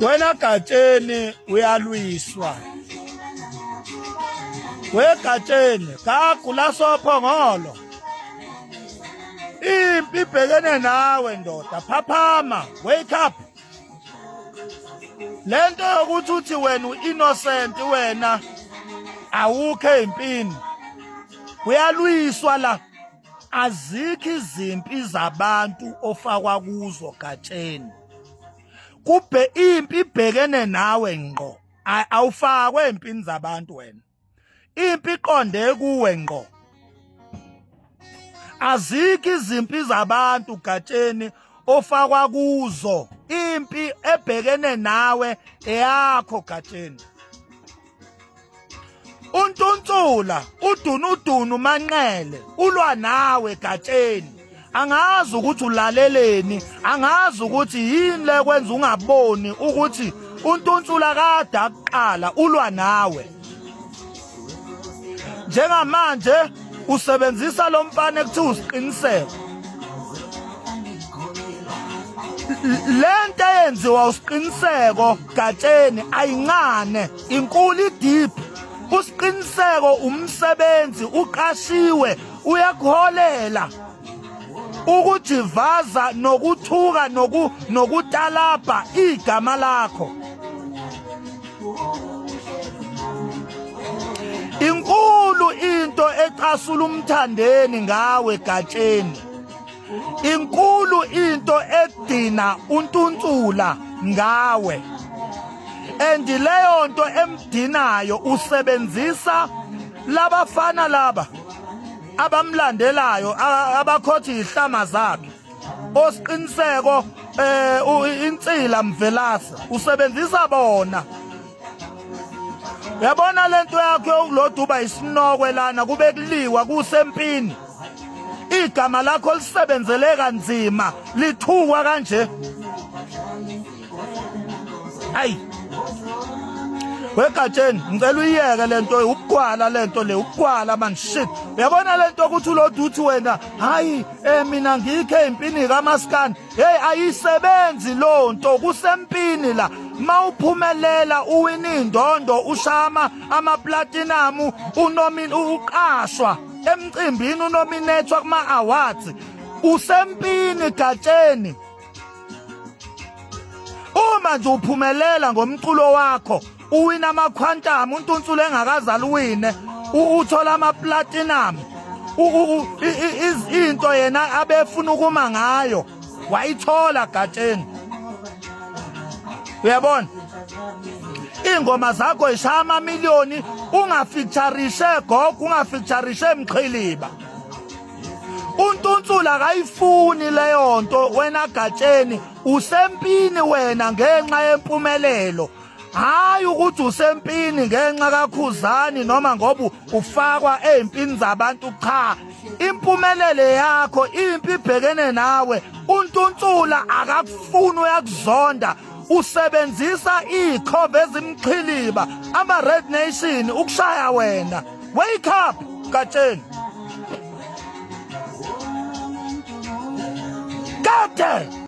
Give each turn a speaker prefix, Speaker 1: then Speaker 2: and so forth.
Speaker 1: wena gatsheni uyalwiswa wegatsheni kagula sophongolo impi ibhekene nawe ndoda phaphama wake up lento yokuthi uthi wena uinnocent wena awukho empini uyalwiswa la azikho izimpi zabantu ofakwa kuzo gatsheni kubhe impi ibhekene nawe ngqo awufakwe empini zabantu wena impi iqonde kuwe ngqo azikho izimpi zabantu gatsheni ofakwa kuzo impi ebhekene nawe eyakho gatsheni untuntula udunudunu manqele ulwa nawe gatsheni angazi ukuthi ulaleleni angazi ukuthi yini le kwenza ungaboni ukuthi untuntula kade akuqala ulwa nawe njengamanje usebenzisa lo mfana ekuthiwa usiqiniseko le nto eyenziwa usiqiniseko Gatsheni ayincane inkulu idip usiqiniseko umsebenzi uqashiwe uyakuholela ukujivaza nokuthuka noku nokutalabha igama lakho inkulu into ecasula umthandeni ngawe gatsheni inkulu into edina untuntula ngawe and leyo nto emdinayo usebenzisa labafana laba abamlandelayo abakhothi ihlama zakhe osiqiniseko eh insila mvelasa usebenzisa bona yabona lento yakho yokuloduba isinokwe lana kube kuliwa kusempini igama lakho lisebenzele kanzima lithukwa kanje ayi wegatsheni ngicela uyiyeke lento ukugwala lento le ukugwala man shit uyabona lento ukuthi ulodu uthi wena hayi eh mina ngikhe impini kamaskani hey ayisebenzi lonto kusempini la mawuphumelela uwina indondo ushama amaplatinum unomini uqashwa emcimbini unominethwa kuma-awards usempini gatsheni uma nje uphumelela ngomculo wakho uwina amakhwantamu untunsulu engakazali uwine uthola amaplatinum into yena abefuna ukuma ngayo wayithola gatsheni uyabona ingoma zakho ishaya amamiliyoni ungafeaturishe gogo ungafeaturishe mqhiliba untunsula akayifuni leyo nto wena gatsheni usempini wena ngenxa yempumelelo hayi ukuthi usempini ngenxa kakhuzani noma ngoba ufakwa ezimpini zabantu cha impumelele yakho impi ibhekene nawe untuntula akakufuni uyakuzonda usebenzisa ikhova ezimqhiliba ama red nation ukushaya wena wake up gatsheni Kade!